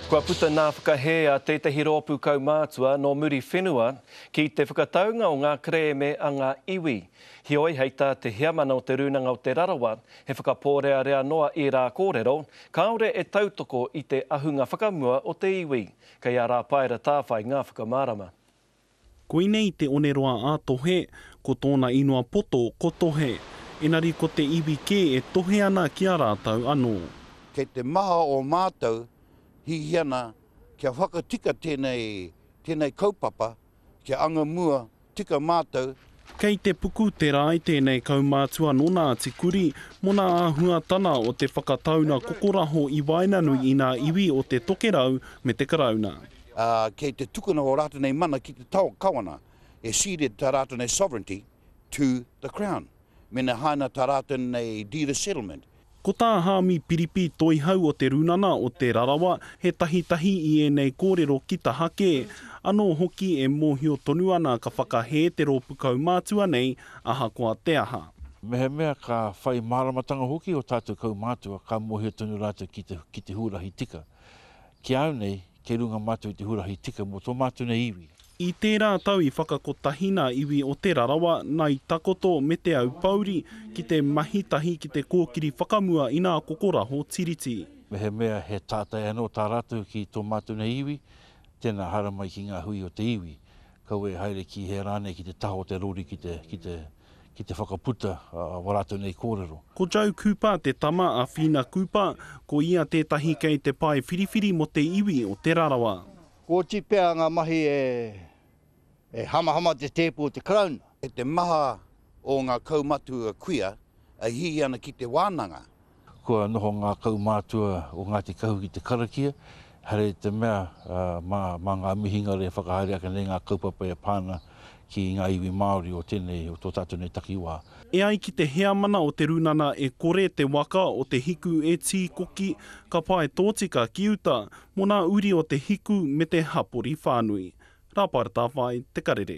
Kua puta ngā whakahē a tētahi rōpū kaumātua nō Muriwhenua ki te whakataunga o ngā kerēme a ngā iwi. Heoi, hei tā te Heamana o Te Rūnanga o Te Rarawa, he whakapōrearea noa ērā kōrero, kāore e tautoko i te ahunga whakamua o te iwi. Kei a Rāpaera Tāwhai ngā whakamārama. Koinei te oneroa a Tohe, ko tōna inua poto ko Tohe. Enari ko te iwi kē e tohe ana ki a rātou anō. Kei te maha o mātou hiahia ana kia whakatika tēnei, tēnei kaupapa kia anga mua tika mātou Kei te puku te rae tēnei kaumātua nō Ngāti Kuri, mona āhuatana o te whakataunga kokoraho i waenganui i ngā iwi o te Tokerau me te Karauna. Ā, kei te tukuna ō rātou nei mana ki te tao Kawana, e ceded tā rātou nei sovereignty to the Crown, mena haina tā rātou nei deed of settlement Ko tā Hāmi Piripi Toihau o Te Runana o Te Rarawa he tahitahi i ēnei kōrero ki taha kē, anō hoki e mōhio tonu ana ka whakahē te rōpu kaumātua nei ahakoa te aha. Mehemea ka whai māramatanga hoki ō tātou kaumātua ka mōhio tonu rātou ki te ki te huarahi tika. Ki a au nei, kei runga mātou i te huarahi tika mō tō mātou nei iwi. I tērā tau i whakakotahi nā iwi o Te Rarawa, Ngai Takoto me Te Aupōuri ki te mahi tahi ki te kōkiri whakamua inā kokoraho Tiriti. Mehemea he tātai anō tā rātou ki tō mātou nei iwi, tēnā haramai ki ngā hui o te iwi, kaua e haere ki hea rānei ki te taha o te rori ki te, ki te, ki te whakaputa wā rātou nei kōrero. Ko Joe Cooper te tama a Whina Cooper, ko ia tētahi kei te pae whiriwhiri mō te iwi o Te Rarawa. Kua oti pea ngā mahi e hamahama te tēpu o te Karauna. E te maha o ngā kaumatua kuia e hihi ana ki te wānanga. Kua noho ngā kaumātua o Ngāti Kahu ki te karakia, haere i te mea mā ngā mihingare e whakahaere ake nei ngā kaupapa e pā ana ki ngā iwi Māori o tēnei, o tō tātou nei takiwā. E ai ki te heamana o Te Runana e kore te waka o Te Hiku e tīkoki, ka pae tōtika ki uta, Mo nā uri o te hiku me te hapori whānui. Rāpara Tāwhai, Te Karere.